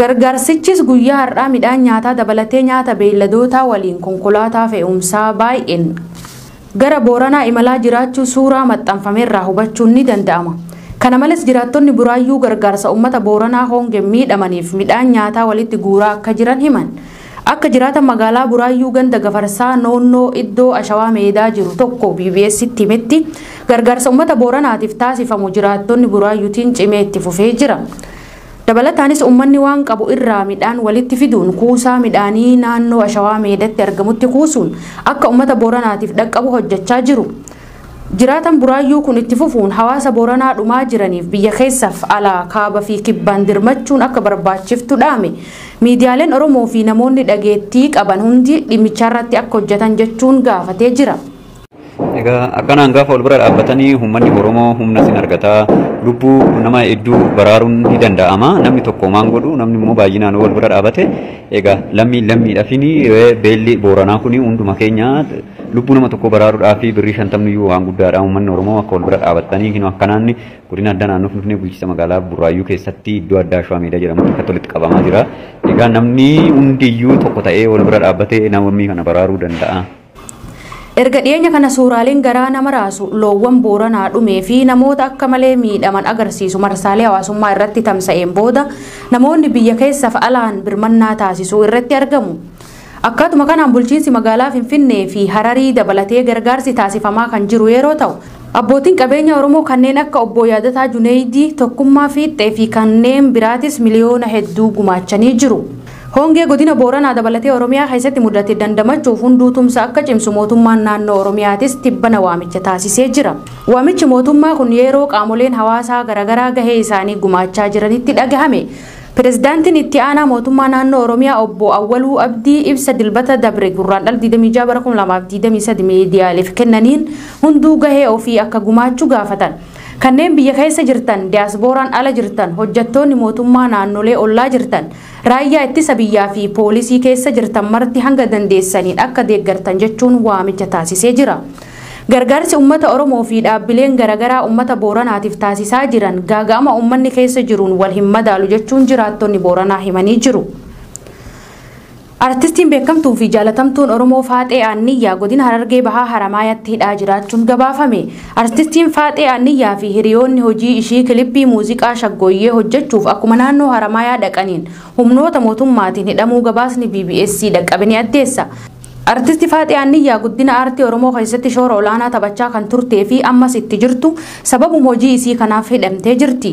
Gargaarsichis guyyaa har'aa midhaan nyaataa dabalatee nyaata beeyladootaa waliin konkolaataa fe'umsaa baay'een gara Booranaa imalaa jiraachuu suuraa maxxanfamerraa hubachuun ni danda'ama. Kana males jiraattonni Buraayyuu gargaarsa uummata Booranaa hoongeen miidhamaniif midhaan nyaataa walitti guuraa akka jiran himan. Akka jiraatan magaalaa Buraayyuu ganda Gafarsaa Noonnoo iddoo Ashawaa Meedaa jiru tokko BBStti himetti, gargaarsa uummata Booranaatiif taasifamu jiraattonni Buraayyuutiin cimee itti fufee jira. Dabalataanis ummanni waan qabu irraa midhaan walitti fiduun kuusaa midhaanii naannoo Ashawaa Meedatti argamutti kuusuun akka ummata Booranaatiif dhaqqabu hojjachaa jiru. Jiraatan Buraayyuu kun itti fufuun hawaasa Booranaa dhumaa jiraniif biyya keessaf alaa kaaba fi kibbaan dirmachuun akka barbaachiftu dhaame. Miidiyaaleen Oromoo fi namoonni dhageettii qaban hundi dhimmichaarratti akka hojjatan jechuun gaafatee jira. Egaa akkanaan gaafa wal bira dhaabbatanii uummanni Oromoo humna sin argataa lubbuu nama hedduu baraaruun ni danda'ama. Namni tokko maan godhu namni immoo baay'inaan wal bira dhaabate egaa lammii lammiidhaafini beelli booranaa kuni hunduma keenya lubbuu nama tokko baraaruudhaaf birrii shantamni iyyuu waan guddaadha. Uummanni Oromoo akka wal bira dhaabatanii hin akkanaan godina addaa naannoo Finfinnee bulchiinsa magaalaa Burraayyuu keessatti iddoo addaa Shawaa Meedaa jedhamutti akka walitti qabamaa jira. Egaa namni hundi iyyuu tokko ta'ee wal bira dhaabbatee namni kana baraaruu danda'a. Erga dhiyeenya kana suuraaleen garaa nama raasu loowwan Booranaa dhumee fi namoota akka malee miidhaman agarsiisu marsaalee hawaasummaa irratti tamsa'een booda namoonni biyya keessaaf alaan birmannaa taasisuu irratti argamu. Akkaatuma kanaan bulchiinsi magaalaa Finfinnee fi Hararii dabalatee gargaarsi taasifamaa kan jiru yeroo ta'u, abbootiin qabeenya Oromoo kanneen akka obbo Yaadataa Juneeydii, Tokkummaa Fiixxee fi kanneen biraatis miliyoona hedduu gumaachanii jiru. Hongee godina Booranaa dabalatee Oromiyaa keessatti mudate dandamachuuf hunduu tumsa akka cimsu mootummaan naannoo Oromiyaatis tibbana waamicha taasisee jira. Waamichi mootummaa kun yeroo qaamoleen hawaasaa garaagaraa gahee isaanii gumaachaa jiranitti dhagahame. Pirezidaantiin itti aanaa mootummaa naannoo Oromiyaa obbo Awwaluu Abdii ibsa dilbata dabre Gurraandhala 26 bara 2023 miidiyaaleef kennaniin hunduu gahee ofii akka gumaachu gaafatan. Kanneen biyya keessa jirtan, diyaasbooraan ala jirtan, hojjattoonni mootummaa naannolee ollaa jirtan, Raayyaa Ittisa Biyyaa fi Poolisii keessa jirtan marti hanga dandeessaniin akka deeggartan jechuun waamicha taasisee jira. Gargaarsi ummata Oromoo fi dhaabbileen garagaraa ummata Booranaatiif taasisaa jiran gaaga'ama ummanni keessa jiruun wal hin madaalu jechuun jiraattonni Booranaa himanii jiru. Artistiin beekamtuu fi jaalatamtuun Oromoo Faaxee Aanniyyaa godina Harargee Bahaa Haramaayaatti hidhaa jiraachuun gabaafame. Artistiin Faaxee Aanniyyaa fi hiriyoonni hojii ishii kilippii muuziqaa Shaggooyyee hojjechuuf akkuma naannoo Haramaayaa dhaqaniin humnoota mootummaatiin hidhamuu gabaasni bbc dhaqqabe ni addeessa. Artisti Faaxee Aanniyyaa guddina aartii Oromoo keessatti shoora olaanaa taphachaa kan turtee fi ammas itti jirtu sababuma hojii isii kanaaf hidhamtee jirti.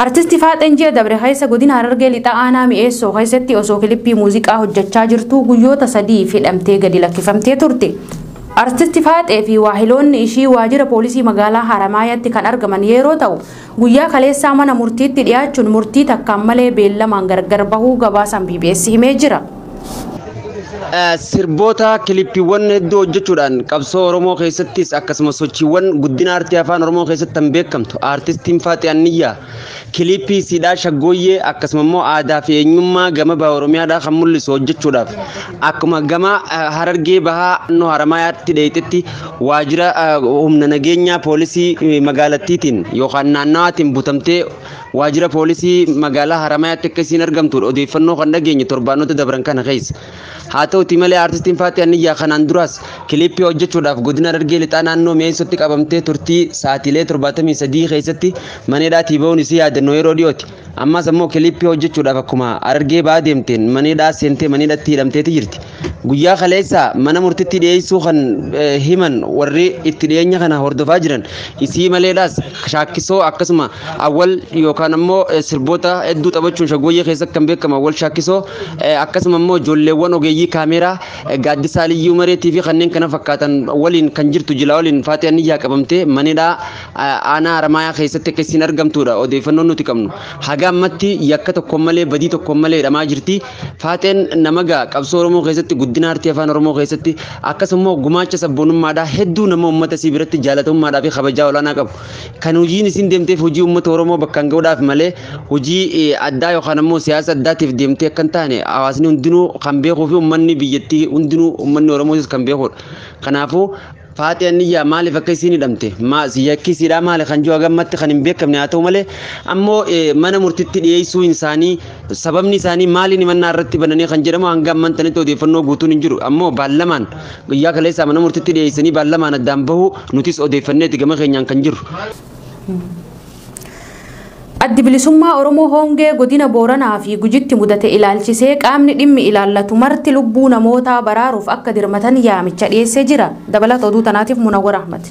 Artisti Faaxeen ji'a dabre keessa godina Harargee Lixaa aanaa Mi'eessoo keessatti osoo kilippii muuziqaa hojjechaa jirtuu guyyoota sadiif hidhamtee gadi lakkifamtee turte. Artisti Faaxee fi waahiloonni ishii waajira poolisii magaalaa Haramaayaatti kan argaman yeroo ta'u, guyyaa kaleessaa mana murtiitti dhiyaachuun murtii takkaan malee beellamaan gargar bahuu gabaasaan BBS himee jira. Sirboota kilippiiwwan hedduu hojjechuudhaan qabsoo Oromoo keessattis akkasumas sochiiwwan guddina aartii afaan Oromoo keessatti kan beekamtu aartistiin Faaxi Anniyyaa kiliippii siidhaa shaggooyyee akkasuma immoo aadaa fi eenyummaa gama baha Oromiyaadhaa kan mul'isu hojjechuudhaaf akkuma gama Harargee bahaa nu Haramaayaatti dheeyxetti waajjira humna nageenyaa poolisii magaalattiitiin yookaan naannawaatiin butamtee Waajjira poolisii magaalaa Haramayaatti akka isiin argamtuudha odeeffannoo kan dhageenye torbaanota dabran kana keessa. Haa ta'uti malee aartistiin Faaxee Anniyyaa kanaan duraas kiliippii hojjechuudhaaf godina Harargee lixaa naannoo Mi'eessootti qabamtee turtii saatiilee 73 keessatti maneedhaatii ba'uun isii yaadannoo yeroo dhiyooti. Ammaas ammoo kiliippii hojjechuudhaaf akkuma Harargee ba'aa deemteen maneedhaa seentee maneedhatti hidhamteeti jirti. Guyyaa kaleessa mana murtitti dhiyeessuu kan himan warri itti dhiyeenya kana hordofaa jiran isii maleedhaas shaakkisoo akkasuma awwal yookaan ammoo sirboota hedduu taphachuun shaggooyyee keessatti kan beekamu awwal shaakkisoo akkasuma immoo ijoolleewwan ogeeyyii kaameeraa gaaddisaa liyyuu mareetii fi kanneen kana fakkaatan waliin kan jirtu jila waliin faatee anniyyaa qabamtee manidhaa aanaa haramaayaa keessatti akka isiin argamtuudha odeeffannoon nuti qabnu haga ammatti yakka tokkoon malee badii tokkoon malee hidhamaa jirti. Faaxeen nama ga'a qabsoo Oromoo keessatti guddina aartii afaan Oromoo keessatti akkasumas gumaacha sabboonummaadhaa hedduu nama uummata isii biratti jaalatamummaadhaa fi kabajaa olaanaa qabu. Kan hojiin isiin deemteef hojii uummata Oromoo bakkaan ga'uudhaaf malee hojii addaa yookaan ammoo siyaasa addaatiif deemtee akka hin taane hawaasni hundinuu kan beekuu fi uummanni biyyattii hundinuu uummanni Oromootis kan beekudha. Kanaafuu Faatiya niyyaa maaliif akka isiin hidhamte maas yakkisiidhaa maali kan jiru hagammatti kan hin beekamne haa ta'u malee ammoo mana murtitti dhiyeessuu isaanii sababni isaanii maaliin himannaa irratti bananii kan jedhamu hanga amman tanitti odeeffannoo guutuun hin jiru ammoo baallamaan guyyaa kaleessaa mana murtitti dhiyeessanii baallamaan addaan bahu nutis odeeffanneeti gama keenyaan kan jiru. Addi Bilisummaa Oromoo Hongee Godina Booranaa fi Gujitti mudate ilaalchisee qaamni dhimmi ilaallatu marti lubbuu namootaa baraaruuf akka dirmatan yaamicha dhiyeessee jira. Dabalata oduu tanaatiif Munawwar Ahmad.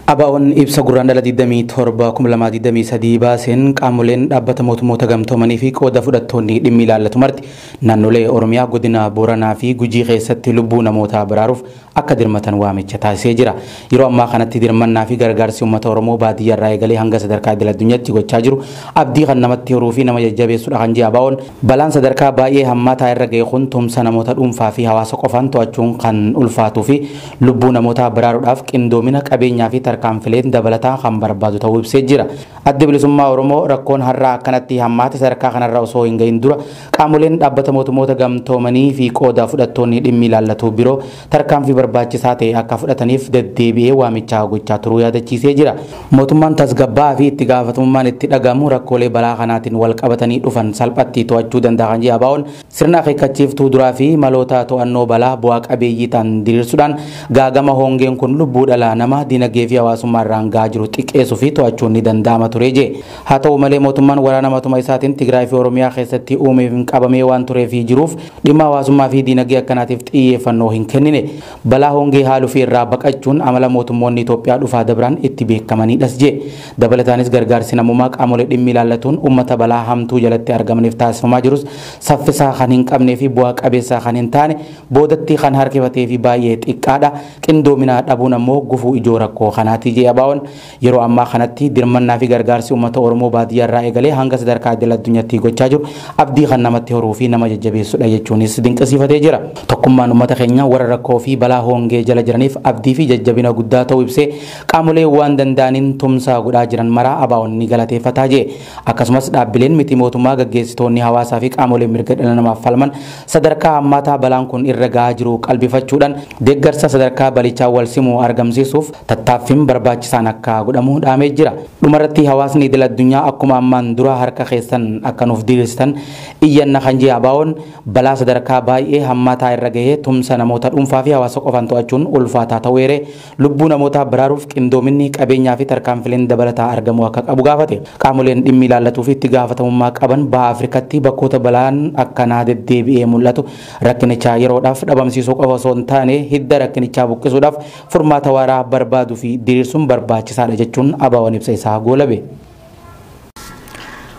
Abaa'oon ibsa gurraandhala 27,2023 baaseen qaamoleen dhaabbata mootummoota gamtoomanii fi qooda fudhattoonni dhimmi ilaallatu marti naannolee Oromiyaa godina Booranaa fi Gujii keessatti lubbuu namootaa baraaruuf akka dirmatan waamicha taasisee jira. Yeroo ammaa kanatti dirmannaa fi gargaarsi uummata Oromoo baadiyyaa irraa eegalee hanga sadarkaa idil addunyaatti gochaa jiru abdii kan namatti horuu fi nama jajjabeessudha kan jedhe ABOn balaan sadarkaa baay'ee hammaataa irra ga'e kun tumsa namoota dhuunfaa fi hawaasa qofaan to'achuun kan ulfaatuu fi lubbuu namootaa baraaruudhaaf qindoomina qabeenyaa fi tarkaanfileen dabalataa kan barbaadu ta'uu ibsee jira. Addi bilisummaa Oromoo rakkoon har'aa akkanatti hammaate sadarkaa kanarra osoo hin ga'in dura Qaamoleen Dhaabbata Mootummoota Gamtoomanii fi qooda fudhattoonni dhimmi ilaallatu biroo tarkaanfii barbaachisaa ta'e akka fudhataniif deddeebi'ee waamicha gochaa turuu yaadachiisee jira. Mootummaan tasgabbaa'aa fi itti gaafatamummaan itti dhaga'amu rakkoolee balaa kanaatiin wal qabatanii dhufan salphatti to'achuu danda'a kan jedhe ABOn, sirna akeekkachiiftuu duraa fi maloota to'annoo balaa bu'aa qabeeyyii ta'an diriirsuudhaan gaagama hongeen kun lubbuu dhala namaa, dinagdee fi hawaasummaa irraan ga'aa jiru xiqqeessuu fi to'achuun ni danda'ama ture jedhe. Haa ta'u malee mootummaan waraana matuma isaatiin Tigraay fi Oromiyaa keessatti uumeefiin qabamee waan turee fi jiruuf dhimma hawaasummaa fi diinagdee akkanaatiif xiyyeeffannoo hin kennine. Balaa hongee haaluu fi irraa baqachuun amala mootummoonni Itoophiyaa dhufaa dabran itti beekamanidhas jee. Dabalataanis gargaarsi namoomaa qaamolee dhimmi ilaallatuun uummata balaa hamtuu jalatti argamaniif taasifamaa jirus saffisaa kan hin qabnee fi bu'aa qabeessaa kan hin taane, boodatti kan harkifatee fi baay'ee xiqqaadha. Qindoominaa dhabuun ammoo gufuu ijoo rakkoo kanaati jee ABOn. Yeroo ammaa kanatti dirmannaa fi gargaarsi uummata Oromoo baadiyyaa irraa eegalee hanga sadarkaa idil addunyattii gochaa jiru abdii kan namatti horuu fi nama jajjabeessudha jechuunis dinqisiifatee jira. Tokkummaan uummata keenyaa warra rakkoo fi balaa hoongee jala jiraniif abdii fi jajjabina guddaa ta'uu ibsee qaamolee waan danda'aniin tumsa godhaa jiran maraa ABOn ni galateeffataa jee. Akkasumas dhaabbileen miti mootummaa, gaggeessitoonni hawaasaa fi qaamoleen mirga dhala namaaf falman sadarkaa hammaataa balaan kun irra gahaa jiru qalbifachuudhaan deeggarsa sadarkaa balichaan wal simu argamsiisuuf tattaaffiin barbaachisaan akka godhamu dhaamee jira. Dhumarratti hawaasni idil addunyaa akkuma ammaan dura harka keessan akka nuuf diriirsitan iyyanna kan jee ABOn, balaa sadarkaa baay'ee hammaataa irra gahee tumsa namoota dhuunfaa fi hawaasa qofaan to'achuun ulfaataa ta'uu eeree, Lubbuu namootaa baraaruuf qindoominni, qabeenyaafi tarkaanfileen dabalataa argamuu akka qabu gaafate. Qaamoleen dhimmi ilaallatuufi itti gaafatamummaa qaban Baha Afrikaatti bakkoota balaan akkanaa deddeebi'ee mul'atu rakkinicha yeroodhaaf dhabamsiisuu qofa osoo hin taane hidda rakkinichaa buqqisuudhaaf furmaata waaraa barbaaduufi diriirsuun barbaachisaadha jechuun ABOn ibsa isaa goolabe.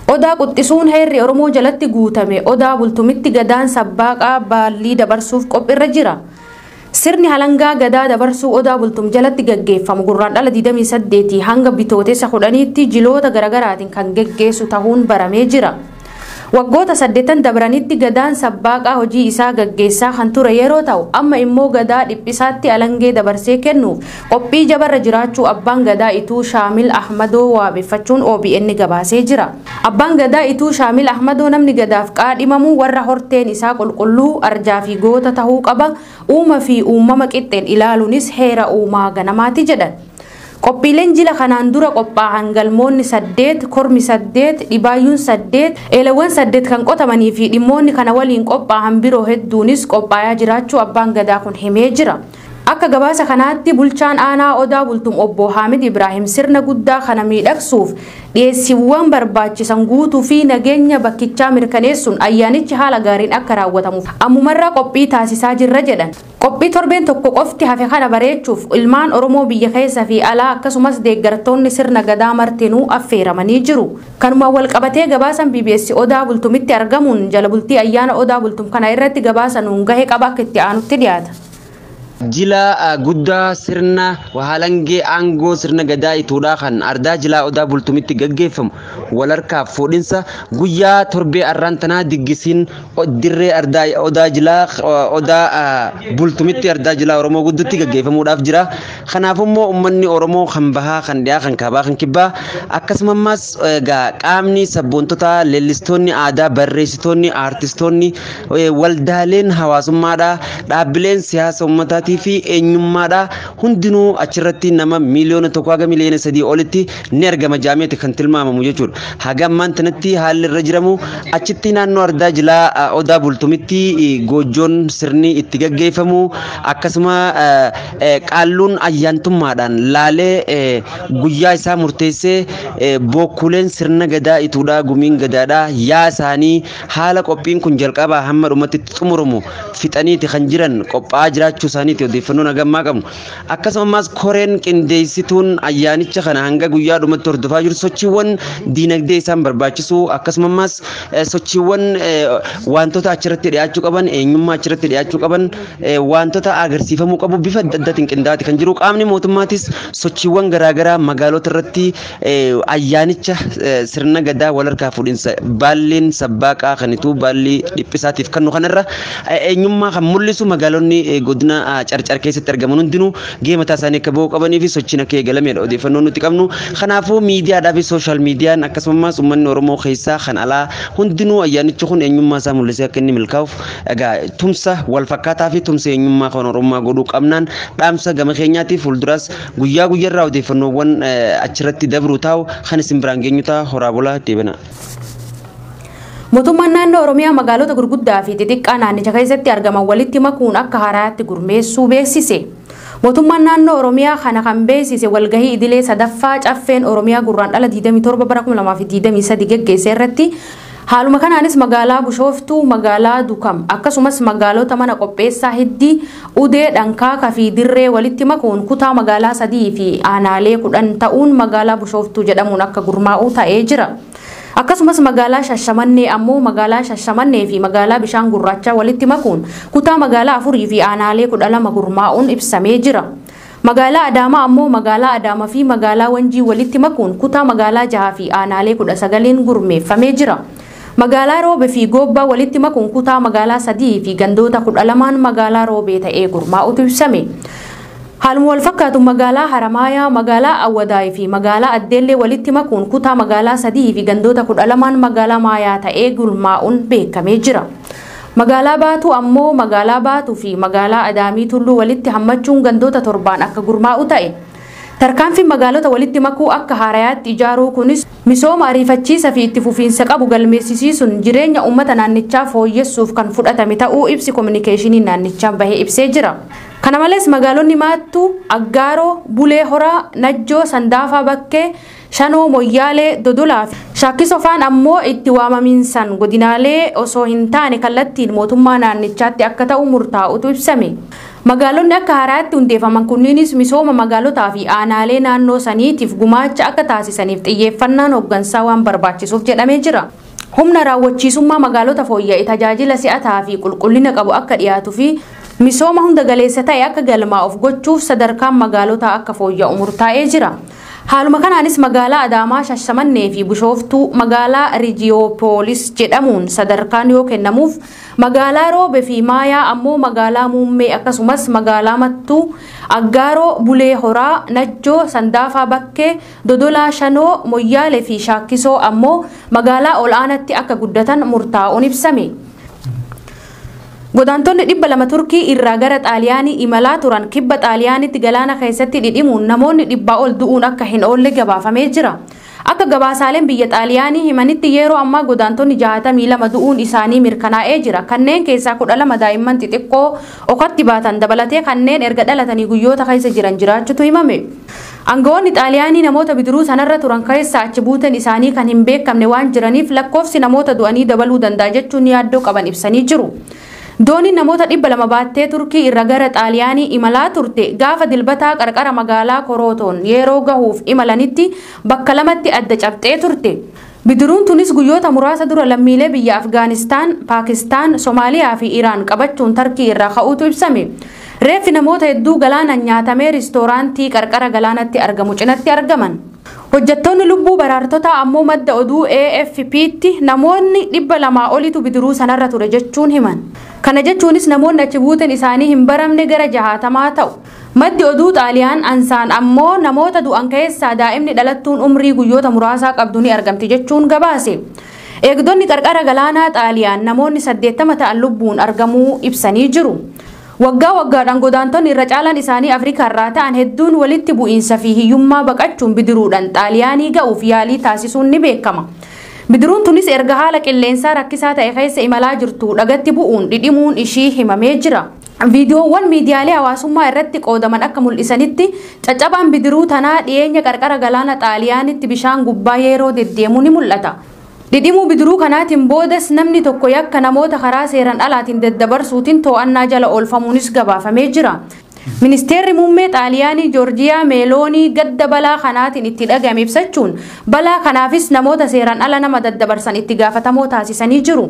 Odaa quxxisuun heerri Oromoo jalatti guutame Odaa bultumitti Gadaan sabbaaqaa baallii dabarsuuf qophirra jira. Sirni halangaa Gadaa dabarsuu Odaa bultum jalatti gaggeeffamu Gurraandhala 28 hanga Bitootessa 10tti jiloota garagaraatiin kan geggeessu tahuun baramee jira. Waggoota saddeettan dabranitti Gadaan sabbaaqaa hojii isaa gaggeessaa kan ture yeroo ta'u amma immoo Gadaa dhiphisaatti alangee dabarsee kennuuf qophii jabarra jiraachuu Abbaan Gadaa Ituu Shaamil Ahmadoo waabeffachuun obn gabaasee jira. Abbaan Gadaa Ituu Shaamil Ahmadoo namni Gadaaf qaadhimamu warra horteen isaa qulqulluu, arjaa fi goota tahuu qaba, uuma fi uummama qixxeen ilaaluunis heera uumaa ganamaati jedhan. Qophiileen jila kanaan dura qophaa'an galmoonni 8, kormi 8, dhibaayyuun 8, eelawwan 8 kan qotamanii fi dhimmoonni kana waliin qophaahan biroo hedduunis qophaayaa jiraachuu Abbaan Gadaa kun himee jira. Akka gabaasa kanaatti bulchaan aanaa Odaa Bultum obbo Haamid Ibraahim sirna guddaa kana miidhagsuuf dhiyeessiwwan barbaachisan guutuu fi nageenya bakkichaa mirkaneessuun ayyaanichi haala gaariin akka raawwatamuuf ammumarraa qophii taasisaa jirra jedhan. Qophii torbeen tokko qofti hafe kana bareechuuf ilmaan Oromoo biyya keessa fi alaa akkasumas deeggartoonni sirna Gadaa martinuu affeeramanii jiru. Kanumaan wal qabatee gabaasan bbs Odaa Bultumitti argamuun jala bultii ayyaana Odaa Bultum kana irratti gabaasa nuun gahe qaba akka itti aanutti dhiyaata. Jila guddaa sirna halangee aangoo sirna Gadaa Ituudhaa kan ardaa jilaa Odaa Bultumitti gaggeeffamu wal harkaaf fuudhinsa guyyaa torbee arraan tanaa diggisiin dirree ardaa odaa jilaa odaa bultumitti ardaa jilaa oromoo guddutti gaggeeffamuudhaaf jira kanaaf immoo ummanni oromoo kan bahaa kan dhiyaa kan kaabaa kan kibbaa akkasumas egaa qaamni sabboontotaa leellistoonni aadaa barreessitoonni aartistoonni waldaaleen hawaasummaadha dhaabbileen siyaasa ummataatii fi eenyummaadha hundinuu achirratti nama miiliyoona tokko haga miiliyoona sadii olitti ni argama jaameeti kan tilmaamamu jechuudha. Haga ammaan tanatti haalli irra jiramu achitti naannoo ardaa jilaa eh, odaa bultumitti eh, goojjoon sirni itti gaggeeffamu akkasuma eh, eh, qaalluun ayyaantummaadhaan laalee eh, guyyaa isaa murteessee eh, bookkuuleen sirna gadaa ituudha gumiin gadaadha yaa isaanii haala qophiin kun jalqabaa hamma dhumatti itti xumuramu fixaniiti kan jiran qophaa'aa jiraachuu isaaniiti odeeffannoon hagammaa qabnu. Akkasumas koreen qindeessituun ayyaanicha kana hanga guyyaa dhumatti hordofaa jiru sochiiwwan diinagdee isaan barbaachisu akkasumas sochiiwwan wantoota achirratti dhiyaachuu qaban eenyummaa achirratti dhiyaachuu qaban wantoota agarsiifamuu qabu bifa adda addaatiin qindaa'aati kan jiru qaamni mootummaatis sochiiwwan garaagaraa magaalota irratti Ayyaanicha sirna gadaa wal harkaa fuudhinsa baalliin sabbaaqaa kanituu baallii dhiphisaatiif kannu kanarra eenyummaa kan mul'isu magaalonni godina carcar keessatti argaman hundinuu gahee mataa isaanii akka ba'uu qabanii fi sochiin akka eegalameedha odeeffannoo nuti qabnu. Kanaafuu miidiyaadhaa fi sooshaal miidiyaan akkasumas uummanni Oromoo keessaa kan alaa hundinuu ayyaanichi kun eenyummaa isaa mul'isee akka inni milkaa'uuf egaa tumsa wal fakkaataa fi tumsa eenyummaa kan Oromummaa godhuu qabnaan dhaamsa gama keenyaatiif fuulduraas Guyyaa guyyarraa odeeffannoowwan achirratti dabru taa'u kan isin biraan geenyu ta'a horaa bulaa deebina. Mootummaan naannoo Oromiyaa magaalota gurguddaa fi xixiqqaa naannicha keessatti argaman walitti makuun akka haaraatti gurmeessuu beeksise. Mootummaan naannoo Oromiyaa kana kan beeksise walgahii idilee sadaffaa caffeen Oromiyaa gurraan dhala 27 bara 2023 geggeesse irratti Haaluma kanaanis magaalaa Bushooftuu, magaalaa Dukam akkasumas magaalota mana qopheessaa Hiddii, Udee, Dhankaaka fi Dirree walitti makuun kutaa magaalaa sadii fi aanaalee kudhan ta'uun magaalaa Bushooftuu jedhamuun akka gurmaa'u ta'ee jira. Akkasumas magaalaa Shashamannee ammoo magaalaa Shashamannee fi magaalaa Bishaan Gurraachaa walitti makuun kutaa magaalaa afurii fi aanaalee kudha lama gurmaa'uun ibsamee jira. Magaalaa Adaamaa ammoo magaalaa Adaama fi magaalaa Wanjii walitti makuun kutaa magaalaa jahaa fi aanaalee 19n gurmeeffamee jira. Magaalaa Roobe fi Goobbaa walitti makuun kutaa magaalaa 3 fi gandoota 12n magaalaa Roobee ta'ee gurmaa'utu ibsame. Haaluma walfakkaatu magaalaa Haramaayaa, magaalaa Awwadaay fi magaalaa Addeellee walitti makuun kutaa magaalaa 3 fi gandoota 12n magaalaa Maayaa ta'ee gurmaa'uun beekamee jira. Magaalaa Baatuu ammoo Magaalaa Baatuu fi Magaalaa Adaamii Tulluu walitti hammachuun gandoota torbaan akka gurmaa'u ta'e. Tarkaanfiin magaalota walitti makuu akka haarayaatti ijaaruu kunis misooma ariifachiisa fi itti fufiinsa qabu galmeessisiisuun jireenya uummata naannichaa fooyyessuuf kan fudhatame ta'uu ibsi kominikeeshinii naannichaa bahe ibsee jira. Kana malees magaalonni Maattuu, Aggaaroo, Bulee Horaa, Najjoo, Sandaafaa Bakkee, Shanoo, Moyyaalee, Dodolaa fi Shaakkiso faan ammoo itti waamamiinsaan godinaalee osoo hin taane kallattiin mootummaa naannichaatti akka ta'u murtaa'utu ibsame. Magaalonni akka haaraatti hundeefaman kunniinis misooma magaalotaa fi aanaalee naannoo saniitiif gumaacha akka taasisaniif xiyyeeffannaan hoggansaa waan barbaachisuuf jedhamee jira. Humna raawwachiisummaa magaalota fooyya'e tajaajila si'ataa fi qulqullina qabu akka dhiyaatu fi misooma hunda galeessa ta'e akka galmaa'uuf gochuuf sadarkaan magaalotaa akka fooyya'u murtaa'ee jira. Haaluma kanaanis magaalaa Adaamaa, Shashamannee fi Bushooftuu magaalaa Rijiyoopolis jedhamuun sadarkaan yoo kennamuuf, magaalaa Roobe fi Maayaa ammoo magaalaa Muummee akkasumas magaalaa Mattuu, Aggaaroo, Bulee Horaa, Najjoo, Sandaafaa Bakkee, Dodolaa Shanoo, Moyyaalee fi Shaakkisoo ammoo magaalaa ol'aanatti akka guddatan murtaa'uun ibsame. Godaantonni 200 Turkii irraa gara Xaaliyaanii imalaa turan kibba Xaaliyaaniitti galaana keessatti dhidhimuun namoonni dhibbaa ol du'uun akka hin oolle gabaafamee jira. Akka gabaasaaleen biyya Xaaliyaanii himanitti yeeroo ammaa godaantonni 62 du'uun isaanii mirkanaa'ee jira. Kanneen keessaa 12 daa'imman xixiqqoo okatti baatan dabalatee kanneen erga dhalatanii guyyoota keessa jiran jiraachutu himame. Angawoonni Xaaliyaanii namoota bidiruu sanarra turan keessaa achi buuteen isaanii kan hin beekamne waan jiraniif lakkoofsi namoota du'anii dabaluu danda'a jechuun yaaddoo qaban ibsanii jiru. Dooniin namoota 200 baattee Turkii irra gara Xaaliyaanii imalaa turte gaafa Dilbataa qarqara magaalaa Korootoon yeeroo gahuuf imalanitti bakka lamatti adda cabxee turte. Bidiruun tunis guyyoota muraasa dura lammiilee biyya Afgaanistaan, Paakistaan, Somaaliyaa fi Iraan qabachuun Tarkii irraa ka'uutu ibsame. Reeffi namoota hedduu galaanaan nyaatamee riistooraantii qarqara galaanatti argamu cinatti argaman. Hojjattoonni lubbuu baraartotaa ammoo madda oduu AFP'tti namoonni 200 olitu bidiruu sanarra ture jechuun himan. Kana jechuunis namoonni achi buuteen isaanii hin baramne gara jahaatamaa ta'u. Maddi oduu Xaaliyaan Ansaan ammoo namoota du'an keessaa daa'imni dhalattuun umrii guyyoota muraasaa qabdu ni argamti jechuun gabaase. Eegdonni qarqara galaanaa Xaaliyaan namoonni 80 ta'an lubbuun argamuu ibsanii jiru. Waggaa waggaadhaan godaantonni irra caalaan isaanii Afrikaarraa ta'an hedduun walitti bu'iinsa fi hiyyummaa baqachuun bidiruudhaan Xaaliyaanii ga'uuf yaalii taasisuun ni beekama. Bidiruun tunis erga haala qilleensaa rakkisaa ta'e keessa imalaa jirtuu dhagatti bu'uun dhidhimuun ishii himamee jira. Viidiyoowwan miidiyaalee hawaasummaa irratti qoodaman akka mul'isanitti, caccabaan bidiruu tanaa dhiyeenya qarqara galaana Xaaliyaanitti bishaan gubbaa yeeroo deddeemu ni mul'ata. Dhidhimuu bidiruu kanaatiin boodas namni tokko yakka namoota karaa seeran alaatiin daddabarsuutiin too'annaa jala oolfamuunis gabaafamee jira. Ministeerri Muummee Xaaliyaanii Joorjiyaa Meeloonii gadda balaa kanaatiin itti dhaga'ame ibsachuun, balaa kanaafis namoota seeran ala nama daddabarsan itti gaafatamoo taasisanii jiru.